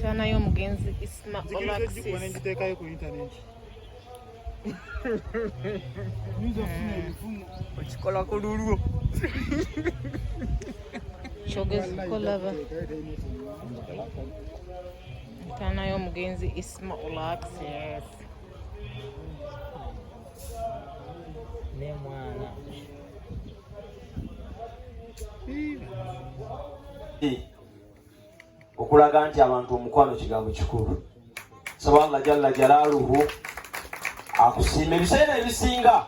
Tana y'omugenzi Isma Olaxis. okikola ku lulwo kyogeza okolaba ntaana y'omugenzi isma olaxes nemwana Hey. okulaga nti abantu omukwano kigambo kikulu saba allah jalla jalaaluhu akusiima ebiseera ebisinga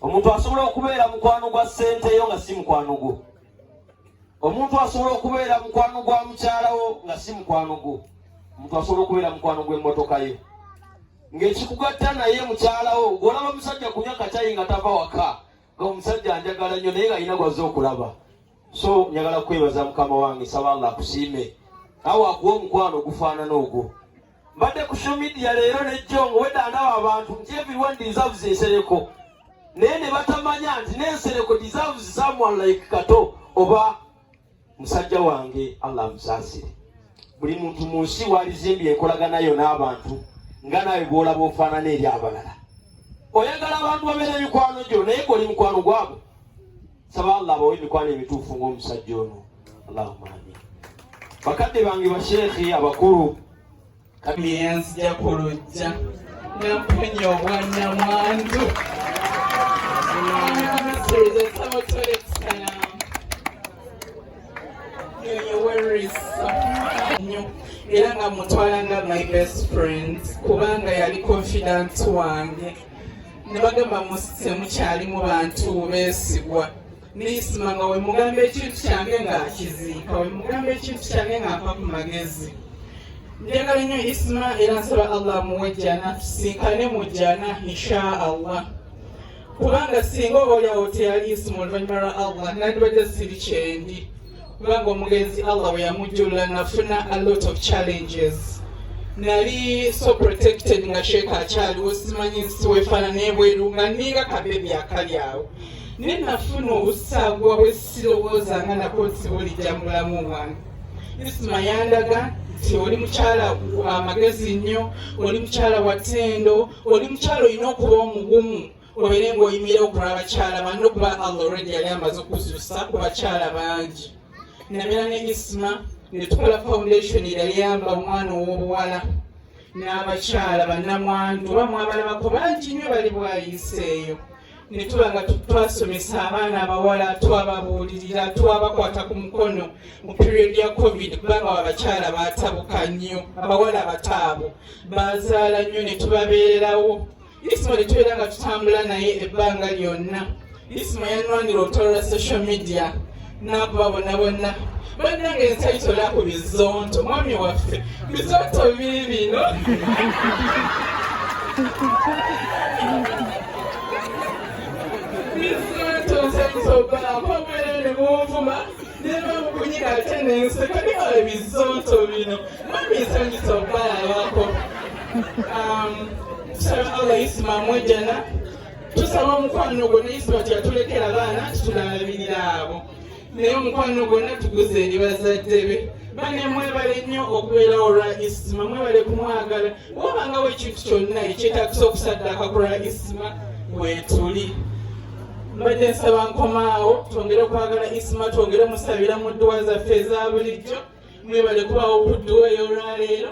omuntu asobola okubeera mukwano gwa ssente yo nga si mukwano gwo omuntu asobola okubeera mukwano gwa mukyalawo nga si mukwano gwo omuntu asobola okubeera mukwano gw'emmotoka ye ng'ekikugatta naye mukyalawo gwolaba omusajja kunywa katayi nga tava waka nga omusajja anjagala nnyo naye nga alina gwazze okulaba so njagala kwebaza mukama wange nsaba allah akusiime awo akuwa omukwano ogufaanana ogwo mbadde ku social media leero nejjongo wedda ndaba abantu nti everyone deserves ensereko naye ne batamanya nti n'ensereko deserves someone like kato oba musajja wange allah amusaasire buli muntu mu nsi walizimbye enkolagana yo n'abantu nga naawe bwolaba ofaanana eri abalala oyagala abantu babeera emikwano gyo naye goli mukwano gwabo nsaba allah abawe emikwano emituufu ng'omusajja ono allahuma amin bakadde bange basheekhe abakulu kabiyanzija ku lujja namponya obwannamwandu era nga mutwala nga my best friend kubanga yali confident wange ne bagamba musise mukyalimu bantu beesigwa neisima nga wemugamba ekintu kyange nga akiziika wemugamba ekintu kyange nga mpa ku magezi njagala nnyo isima era nsaba allah amuwe jjana tusinkane mu jjana insha allah kubanga singa oba olyawo teyali isima oluvannyuma lwa allah nandibadde siri kyendi kubanga omugenzi allah bwe yamujjulula nafuna a lot of challenges nali so protected nga sheeka akyaliwo simanyi nsiwefaana nebweru nga ninga kabebi akali awo naye nafuna obusagwa bwesirowooza nga nako nti bulijja mulamu wange isma yandaga nti oli mukyala amagezi nnyo oli mukyala watendo oli mukyala olina okuba omugumu obeere ng'oyimira ku lw'abakyala banno kuba allah olwedi yali amaze okuzuusa ku bakyala bangi nabeera ne isma ne tukola foundation eyayamba omwana ow'obuwala n'abakyala bannamwandu oba mwabalabako bangi nnyo bali bwayiseeyo ne tuba nga twasomesa abaana abawala twababuulirira twabakwata ku mukono mu period ya covid kubanga abakyala baatabuka nnyo abawala bataabu bazaala nnyo ne tubabeererawo Isma ne tubeera nga tutambula naye ebbanga lyonna. Isma yanwanira olutalo lwa social media n'akuba bonna bonna bannange nsayitola ku bizonto mwami waffe bizonto biri bino bizonto nsayitobaako omwere ne munvuma neva mukunyika ate nenseka newala bizonto bino mami nsanyisa okubalabako Um, tusaba Allah yisimaamu ejjana tusaba omukwano gwonna yisima kyatulekera abaana titulalabirira abo naye omukwano gwonna tuguze eri bazadde be bane mwebale nnyo okubeera olwa isima mwebale kumwagala wabangawo ekintu kyonna ekyetagisa okusaddaaka ku lwa isima wetuli mbadde nsaba nkomaawo twongere okwagala isima twongere musabira mu dduwa zaffe eza bulijjo mwebale kubawo ku dduwa ey'olwaleero